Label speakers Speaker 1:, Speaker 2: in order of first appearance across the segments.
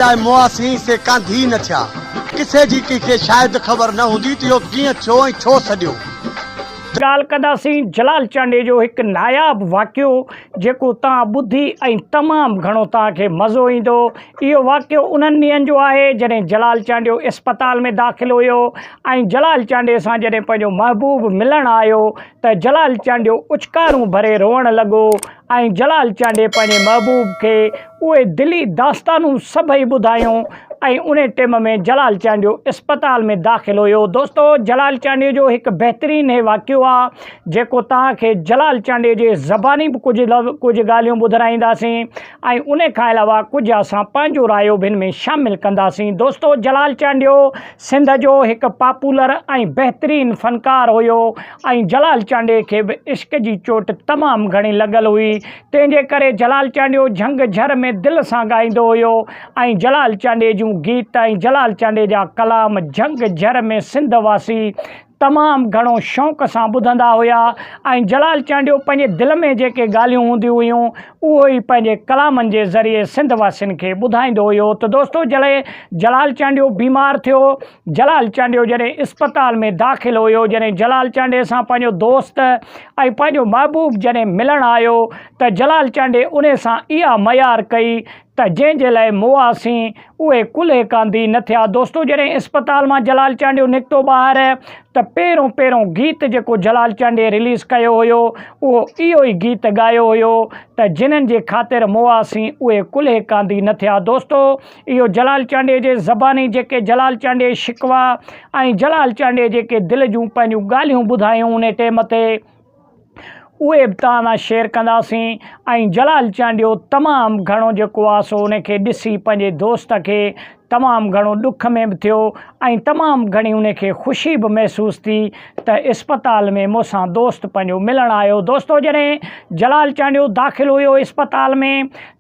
Speaker 1: لاء مواسين سي ڪانڌي نه ٿيا. ڪٿي جي ڪنهن کي شايد خبر نه هوندي ته اهو ڪيئن ٿيو ۽ ڇو سڏيو. ڳالهه
Speaker 2: ڪنداسين جلال چانڊيي جو هڪ ناياب واقعو جيڪو توهان ٻڌي ۽ تمام گهڻو توهان کي مزو ايندو. اهو واقعو انهن ڏينهن جو آهي جڏهن جلال چانڊيو اسپتال ۾ داخل هيو ۽ جلال چانڊيي سان جڏهن پنهنجو محبوب ملڻ آيو ته جلال چانڊيو اڇڪارون ڀري روئڻ لڳو ۽ جلال چانڊي پنهنجي محبوب کي اهي دلي داستانون سڀئي ٻڌايون ۽ انهي ٽيم ۾ جلال چانڊيو اسپتال ۾ داخل هيو دوستو جلال چانڊيو جو هڪ بهترين هي واقعو آ جيڪو توهان کي جلال چانڊي جي زباني به ڪجهه لو ڪجهه ڳالهيون ٻڌرائينداسين ۽ انهي کان علاوه ڪجهه اسان پنهنجو رايو بن ۾ شامل ڪنداسين دوستو جلال چانڊيو سنڌ جو هڪ پاپولر ۽ بهترين فنڪار هيو ۽ جلال چانڊيي کي به عشق جي چوٽ تمام گهڻي لڳل هئي، تنهن جي ڪري جلال چانڊيو جهنگ جهر ۾ دل سان ڳائيندو هيو ۽ جلال چانڊيي جون گيت ۽ جلال چانڊيي جا ڪلام جهنگ جهر ۾ سنڌ واسي تمام گهڻو شوق سان ٻڌندا هيا ۽ جلال چانڊيو پنهنجي دل ۾ جيڪي ڳالهيون هونديون هيون اهو ئي پنهنجي ڪلامن جي ذريعي سنڌ واسين کي ٻڌائيندو هيو ته دوستو جڏهن جلال چانڊيو بيمار ٿيو جلال چانڊيو جڏهن اسپتال ۾ داخل هيو جڏهن جلال چانڊي سان پنهنجو دوست ۽ پنهنجو محبوب جڏهن ملڻ آيو ته جلال چانڊي انهي سان اها ميار ڪئي ته جنهن جي لاء موهاسين، اهي ڪلهي ڪانڌي نه ٿيا. دوستو جڏهن اسپتال مان جلال چانڊيو نڪتو ٻاهر ته پهريون پهريون گيت جيڪو جلال چانڊيي رليز ڪيو هيو اهو اهو ئي گيت ڳايو هيو ته جنھن جي خاطر موهاسين، اهي ڪلهي ڪانڌي نه ٿيا. دوستو اهو جلال چانڊيي جي زباني جيڪي جلال چانڊيي شڪوا ۽ جلال چانڊيي جيڪي دل جون پنهنجون ڳالهيون ٻڌايون انهي ٽيم تي، اهي ابتهان شيئر ڪنداسين ۽ جلال چانڊيو تمام گهڻو جيڪو آ سو ان کي ڏسي پنهنجي دوست کي تمام گهڻو ڏک ۾ به ٿيو ۽ تمام گهڻي ان کي خوشي به محسوس ٿي ته اسپتال ۾ مون سان دوست پنهنجو ملڻ آيو دوستو جڏهن جلال چانڊيو داخل هيو اسپتال ۾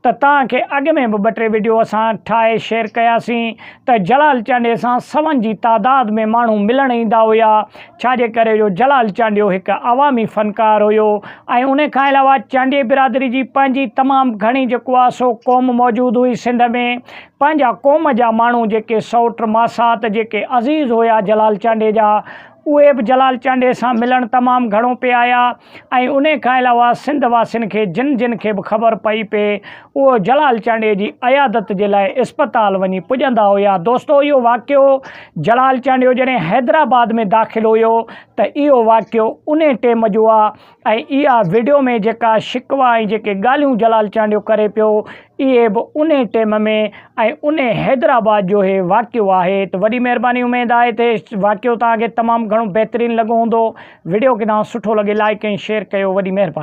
Speaker 2: ته توهان کي اڳ ۾ به ٻه ٽي وڊيو اسان ٺاهي شيئر ڪياسين ته جلال چانڊيي سان سون جي تعداد ۾ ماڻهو ملڻ ايندا هيا ڇا جي ڪري جو جلال چانڊيو هڪ عوامي فنڪار هيو ۽ ان کان علاوه چانڊيي برادري جي پنهنجي تمام گهڻي جيڪو آهي سو قوم موجود هئي سنڌ ۾ پنهنجا قوم جا ماڻهو جيڪي سئوٽ ماسات جيڪي عزيز هيا جلال چانڊيي جا اهي به جلال چانڊيي سان ملڻ تمام گهڻو پي آيا ۽ انهيء کان علاوه سنڌ واسين کي جن جن کي به خبر پئي پي اهو جلال چانڊيي جي عيادت جي لاء اسپتال وڃي پڄندا هيا دوستو اهو واقعو جلال چانڊيو جڏهن حيدرآباد ۾ داخل هيو ته اهو واقعو انهي ٽيم جو آ ۽ اها وڊيو ۾ جيڪا شڪوا ۽ جيڪي ڳالهيون جلال چانڊيو ڪري پيو اهي به انهي ٽيم ۾ ۽ انهي حيدرآباد جو هي واقعو آهي ته وڏي مهرباني اميد آهي ته واقعو توهان کي تمام گهڻو بهترين لڳو هوندو وڊيو ڪيڏانهن سٺو لڳي لائيڪ ۽ شيئر ڪيو وڏي مهرباني.